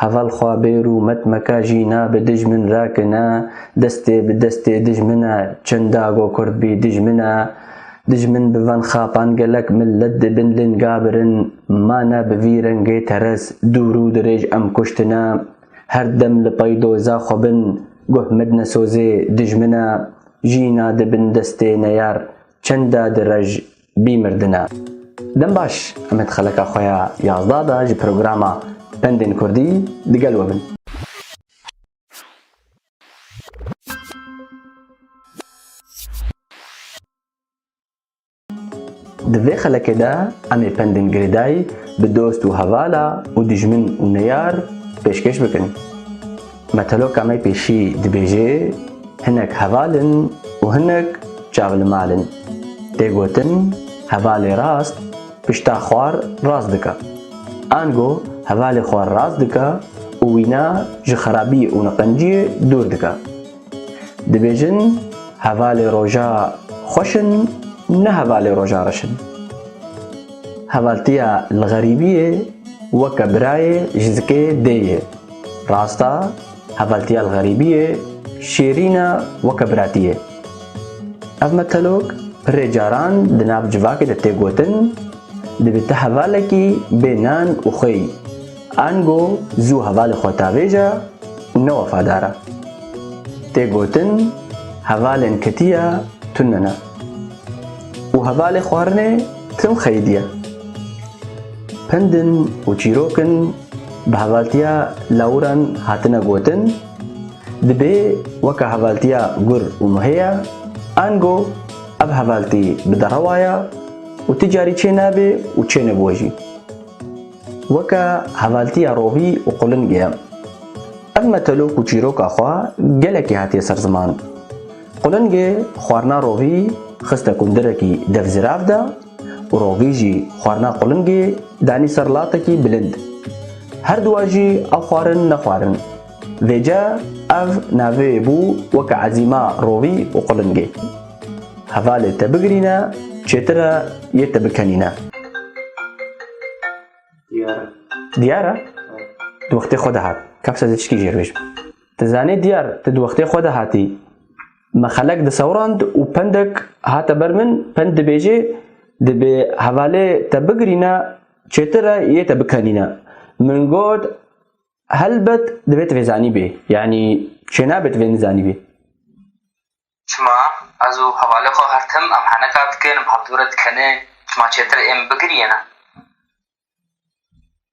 Heval xwe bêr û met meke jî na bi dijmin re ki ne destê bi destê dijmin e çinda go kurd bî dijmin e dijmin bi van xapan gelek millet di bin linga birin ma ne bi vî rengê teres dûr û dirêj em kuştine her dem li pey doza xwe bin guh mit ne sozê dijmin e jîna di bin destê neyar çinda di rej bî mirdine. Dem baş Emed xeleka xwe ya yazdeh de ji programa Pendên Kurdî digel we bin. Di vê xelekê de em ê pendên girêdayî bi dost û hevala û dijmin û neyar pêşkêş bikin. Meteloka me pêşî dibêje, Hinek heval in û hinek çav li mal in. Tê gotin hevalê rast pişta xwar rast dike. Ango hevalê xwar rast dike û wîna ji xerabiyê û niqenciyê dûr dike. Dibêjin hevalê roja xweş in ne hevalê roja reş in. Hevaltiya li xerîbiyê weke birayê ji zikê dê ye. Rasta hevaltiya li xerîbî ye, şêrîn e weke biratî ye. Ev metelok pirê caran di nav civakê de tê gotin, Dibî tu hevalekî bê nan û xweyî, ango zû hevalê xwe tavêje û ne wefadar e. Tê gotin hevalên ketiya tune ne û hevalê xwarinê tim xeyîdî ye. Pindin û çîrokin Bi hevaltiya lawiran hatine gotin, dibê weke hevaltiya gur û muhêya, ango ev hevaltî bi derewa ya û ti carî çê nabê û çêne bo jî. Weke hevaltiya rovî û qulingê ye. Ev metelok û çîroka xwe gelekî hatiye ser ziman. Qulingê xwarina rovî xiste kundirekî dev zirav de, û rovî jî xwarina qulingê danî ser latekî bilind. Her duwa jî ew xwarin nexwarin. Vêce ev naveyê bû weke ezîma rovî û qulingê. Hevalê te bigirîne çêtir e yê te bikenîne. Diyar e. Diyar e? Di wextê xwe de hat. Kefs ez ê çikî jêr bêjim. Ti zanî diyar, ti di wextê xwe de hatî. Me xelek disewrand û pendek hate ber min, pend dibêje, Dibê hevalê te bigirîne, çêtir e yê te bikenîne. Min got, Helbet divê tu vê zanîbî, yanî çênabê tu vê nizanîbî. Çima ez û hevalê xwe her tim em heneka dikin, bi hevdûre dikenê, çima çêtir ê min bigirîyêne?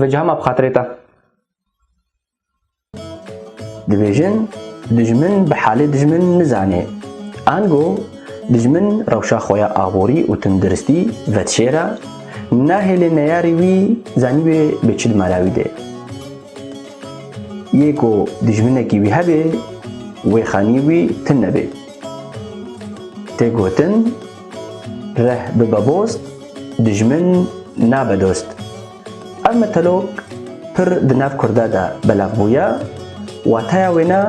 Veciha ma bi xatirê te. Dibêjin dijmin bi halê dijmin nizanê. Ango dijmin rewşa xwe ya aborî û tindiristî vedişêre, nahêlê neyarî wî zanîbê bi çi dimara wî dê. Yê ku dijminekî wî hebê, wê xanî wî tim nebê. Tê gotin, Reh bibe boz, dijmin nabe dost. Ev metelok pir di nav Kurda de belav bûye, wateya wê ne,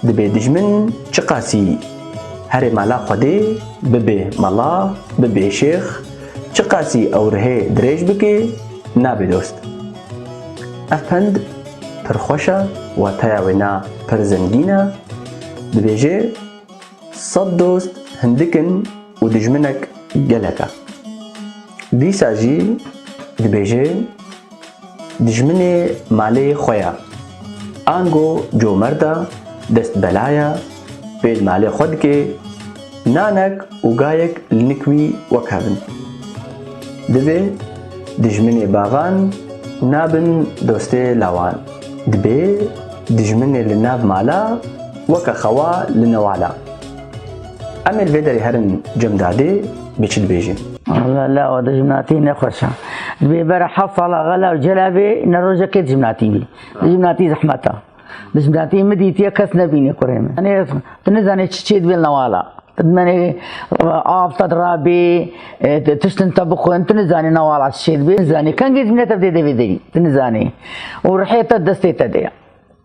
dibê dijmin çiqasî herê mala Xwedê bibê mala, bibê şêx, çiqasî ew rihê dirêj bikê, nabê dost. Ev pend pir xweş e, wateya wê ne pir zengîn e, dibêje, Sed dost hindik in û dijminek gelek e. Dîsa jî dibêje dijminê malê xwe ye. Ango comerd e, dest bela ye, pêl malê xwe dike, nanek û gayek li nik wî wek hev in. Divê dijminê bavan nabin dostê lawan. Dibê dijminê li nav mala Weke xewa li newala. Em ê li vê derê herin cemdadê bê çi dibêjin. Walla la o dijminatî ne xweş e. Dibê bera heft sala ve la cela bê ne rojekê dijminatî bî. Dijminatî zehmet e. Dijminatî min dîtiye kes nebîne kurê min. Anê tu nizanê çi çê dibê li newala. Tu dimenê av te dirabê, e, tiştin te bixwin, tu nizanê newala çi çê dibê, nizanê. Kengê dijminê te bi dê devê derî, tu nizanê. Û rihê te destê te de ye.